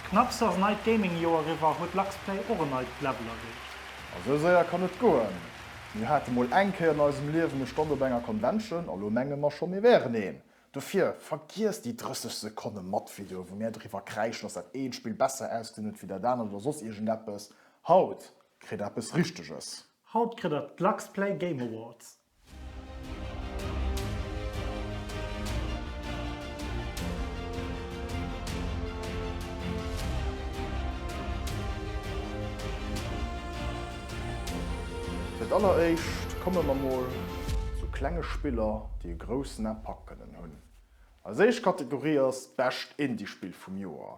Knapps ass neit Gaming Joer eriwwer, huet Luxplay och en neit Level erreecht? A sou séier kann et goen. Mir hate mol eng Kéier an eisem Liewen e Stand op enger Convention a lo menge mer scho mir wären een. Dofir, vergiesst déi 30 Sekonne Mattvideo wou mir driwwer kräischen dass dat eent Spill besser ausgesinn huet wéi dat anert oder soss iergendeppes. Haut kritt der eppes richteges. Haut kritt der d'Lux Play Game Awards. Fir d'alleréischt komme mer mol zu klenge Spiller, déi e groussen Impact kënnen hunn. Eis éischt Kategorie ass d'bescht Indie-Spill vum Joer.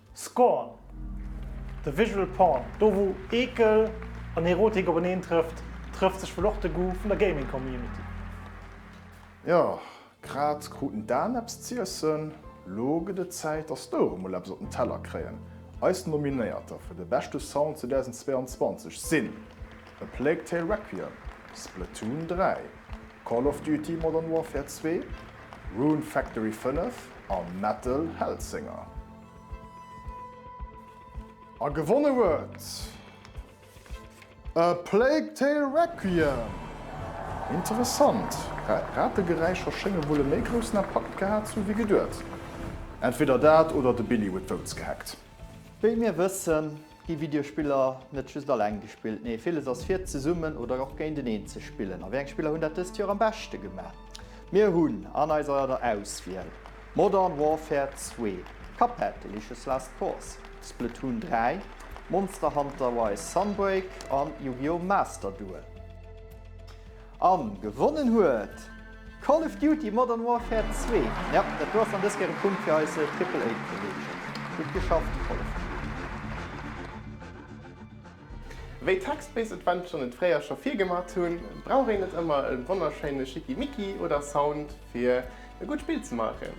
Scorn, de Visual Porn, do wou Eekel an Erotik openeen trëfft, trëfft sech wuel och de Goût vun der Gaming Community. Jo, grad kruten d'Aen eppes z'iessen, lo gëtt et Zäit dass d'Ouere mol eppes op den Teller kréien. Eis Nominéierter fir de beschte Sound 2022 sinn, A Plague Tale Requiem, Splatoon 3, Call of Duty Modern Warfare 2, Rune Factory 5 a Metal Hellsinger. A gewonne huet A Plague Tale Requiem. Interessant, Rategeräischer schénge wuel e méi groussen Impakt gehat zu hu wéi geduet. Entweder dat oder de Billy huet d'Votes gehackt. Wéi mir wëssen, Gi Videospiller net just alleng gespillt? Nee, villes ass fir zesummen oder och géinteneen ze spillen. A wéi eng Spiller hunn dat dëst Joer am beschte gemaach? Mir hunn an eiser Auswiel Modern Warfare 2, Cuphead, Delicious Last Course, Splatoon 3, Monster Hunter Rise, Sunbreak an Yu-Gi-Oh! Master Duel. An gewonnen huet Call of Duty Modern Warfare 2. Jo, dat do ass dann dës Kéier e Punkt fir eise Triple A Kolleegen. Gutt geschafft Call of Duty. Wéi d'Text-Based Adventuren et fréier scho virgemat hunn, brauch een net ëmmer e wonnerschéine Schickimicki oder Sound fir e gutt Spill ze maachen.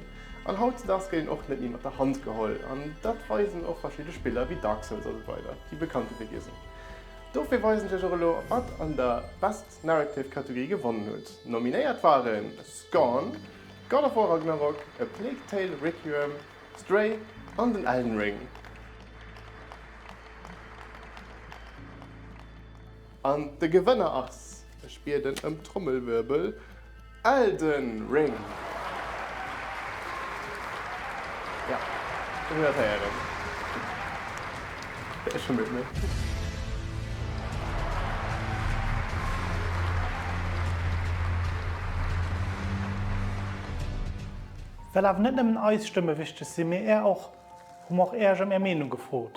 An hautzedags gëtt een och net méi mat der Hand geholl, an dat weisen och verschidde Spiller wéi Dark Souls a sou weider, déi bekannte Wege sinn. Dofir weisen ech och elo wat an der Best Narrative Kategorie gewonnen hutt. Nominéiert waren Scorn, God of War Ragnarok, A Plague Tale Requiem, Stray an den Elden Ring. An de Gewënner ass, ech bieden ëm Trommelwirbel, Elden Ring. Jo, ech hunn dat héieren. Ech hunn et net. Well awer net nëmmen eis Stëmme wichteg sinn, mee är och, hu mer och Äerch ëm är Meenung gefrot.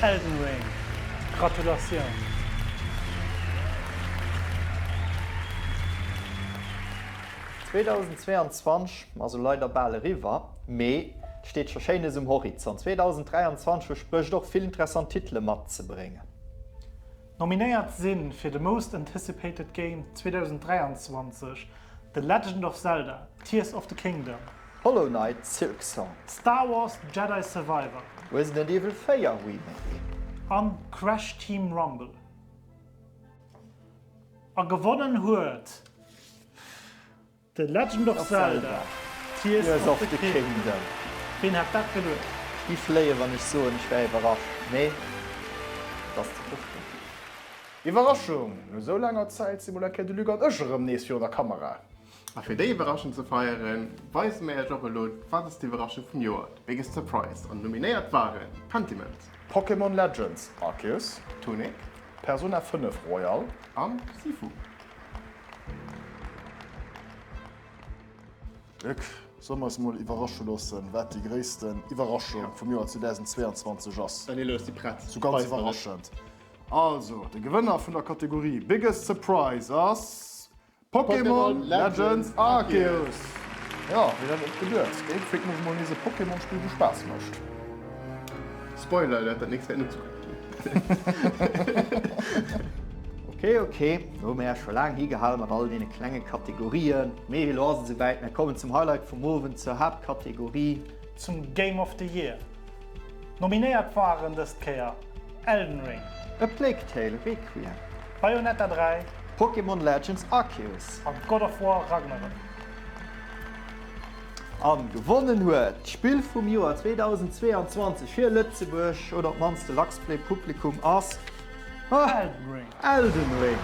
Elden Ring, Gratulatioun! Zweetausendzweeanzwanzeg ass elo leider bal eriwwer, mee et steet scho Schéines um Horizont. Zweetausenddräianzwanzeg versprécht och vill interessant Titele matzebréngen. Nominéiert si fir de Most Anticipated Game 2023 The Legend of Zelda, Tears of the Kingdom, Hollow Knight Silksong. Star Wars Jedi Survivor. Resident Evil 4 Remake. An Crash Team Rumble. A gewonnen huet The Legend of Zelda Tears of the Kingdom. Ween hätt dat geduecht? Gi fléien wann ech soen ech wär iwwerrascht, mee et ass ze hoffen. Iwwerraschung, no esou laanger Zäit si mol eng Kéier de Luc an ech erëm nees virun der Kamera. A fir déi Iwwerraschung ze feieren, weise mir iech och elo Wat ass d'Iwwerraschung vum Joer? The Biggest Surprise an nominéiert waren Pentiment, Pokémon Legends Arceus, Tunic, Persona 5 Royal, an Sifu. Luc, solle mer eis emol iwwerrasche loossen, wat déi gréissten Iwwerraschung vum Joer 2022 ass? Daniel, elo ass déi prett. Sou ganz iwwerraschend. Also, de Gewënner vun der Kategorie Biggest Surprise ass Pokémon Legends Arceus! Jo, wien hätt et geduet? Géif fréck mech mol nees e Pokémon-Spill, wou Spaass mécht. Spoiler Alert, dat nächst wäert net sou gutt ginn. Ok, ok, do hu mir Iech scho laang higehal mat all deene klenge Kategorien. Mee elo ass et esouwäit, mir kommen zum Highlight vum Owend, zur Haaptkategorie. Zum Game of the Year. Nominéiert waren dëst Kéier Elden Ring. A Plague Tale, Requiem. Bayonetta 3. Pokémon Legends Arceus. A God of War, Ragnarök. A gewonnen huet d'Spill vum Joer 2022 fir Lëtzebuerg, oder op d'mannst de Luxplay Publikum, ass Elden Ring!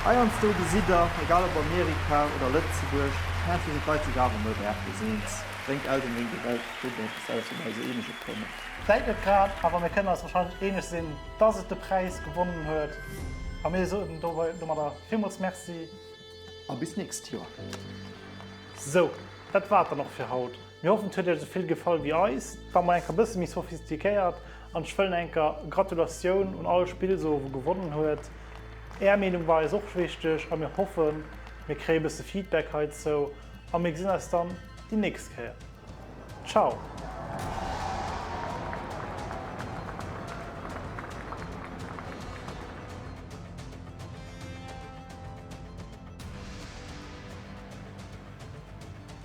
Heiansdo gesitt der, egal op Amerika oder Lëtzebuerg, heiansdo sinn d'Leit sech awer net aartlos eens, bréngt Elden Ring der Welt dënn eppes aus wat eise Eenege kënnt? Vläit net grad, awer mir kënnen eis warscheinlech eeneg sinn, dass et de Präis gewonnen huet a mir soen domadder villmools Merci a bis d'nächst Joer! Sou, dat war et dann och fir haut. Mir hoffen et huet iech esouvill gefall wéi eis. Et war mol enker bësse méi sophistiquéiert an ech wëllen enker Gratulatioun un all Spill soe wou gewonnen huet. Är Meenung war eis och wichteg a mir hoffen mir kréie bësse Feedback heizou a mir gesinn eis dann déi nächst Kéier. Ciao!